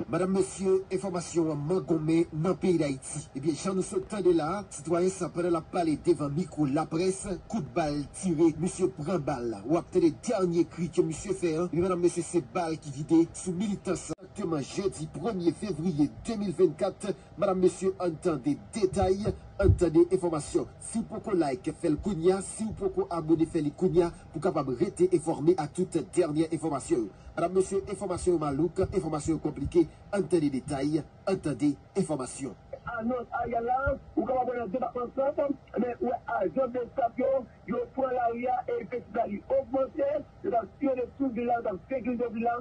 Madam mesye enfòmasyon an mangonmen nan peyi dayiti ebyen jan nou sot tande la Sitwayen sa pandan lap pale devan mikwo laprès kout bal tire misye pran bal la wap tande dènye kri ke misye fè an wi medam mesye se bal ki vide sou militan sa. Exactement jeudi premye fevrier 2024 madam mesye ann tande detay ann tande enfòmasyon siw poko like fèl kounya siw poko abone fè li kounya pou kapab rete enfòme ak tout dènyè enfòmasyon yo madam mesye enfòmasyon yo malouk enfòmasyon yo konplike ann tande detay ann tande enfòmasyon. Anons Ariel la, ou kapab wè nan depatman Sòt, men ou wè ajan Bsap yo, yo pran lari a e festival li ogmante, yo t ap siyone tout vil la, yo t ap sekirize vil la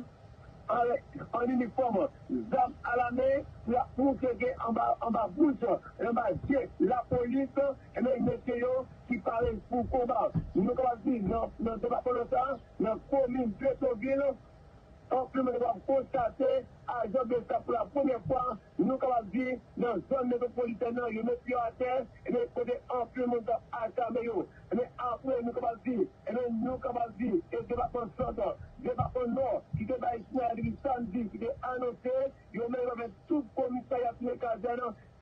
an inifòm, zam alamen pou y ap moutre ke anba bouch e anba je lapolis, ebyen mesye yo ki pare pou konba. Nou kapab di nan depatman Nò sa, nan komin Petyonvil, Anfin, nou kapab konstate ajan bsap pou la premyè fwa, nou kapab di, nan zòn metwopolitèn nan, yo met pye atè, ebyen kote anpil moun tap achame yo. Ebyen apre nou kapab di, ebyen nou kapab di e depatman Sant, depatman Nò ki te bay sinyal la depi samdi ki te anonse yo menm avèk tout komisarya touye kazèn,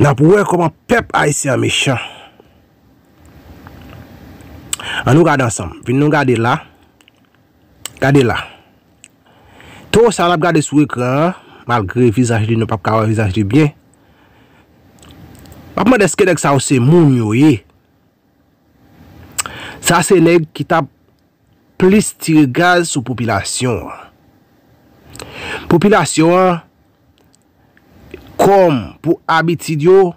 Nap wè koman pèp ayisyen an mechan. An nou gade ansanm. Vin nou gade la. Gade la. Towo sa nap gade sou ekran an. Malgre vizaj li nou pap ka wè vizaj li byen. Map mande eske nèg sa yo se moun yo ye. Sa se nèg ki tap plis tire gaz sou popilasyon an. Popilasyon an kòm pou abitid yo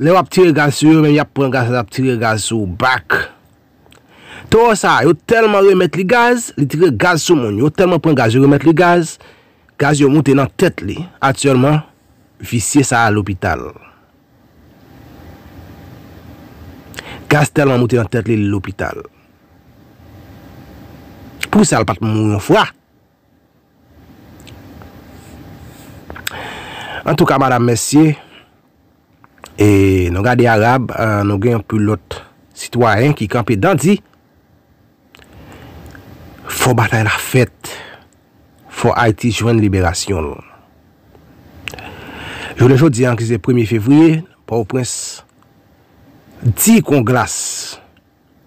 lè wap tire gaz sou yo men yap pran gaz yap tire gaz sou ou bak. Toro sa yo tèlman remèt li gaz, li tire gaz sou moun yo tèlman pran gaz yo remèt li gaz, gaz yo moute nan tèt li. Aktyèlman visye sa a lopital. Gaz tèlman moute nan tèt li li lopital. Pou sa l pat mouri yon fwa. Antouka madam mesye e nou gade arab nou gen yon pilot sitwayen ki kanpe dan di. Fò batay la fèt, fò Ayiti jwenn liberasyon l. Jounen jodi a ki se premye fevriye, Pòtoprens di kon glas,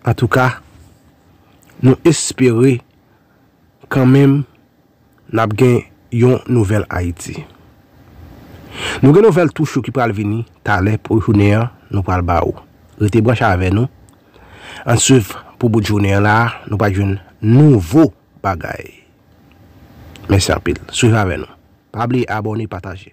antouka nou espere kanmenm, N ap gen yon nouvèl Ayiti. Nou gen nouvèl tou cho ki pral vini talè pou jounen an nou pral ba ou. Rete branche avè nou, an n swiv pou bout jounen an la a nou pa jwenn nouvo bagay. Mèsi anpil, swiv avè nou. Pa bliye abòne, pataje.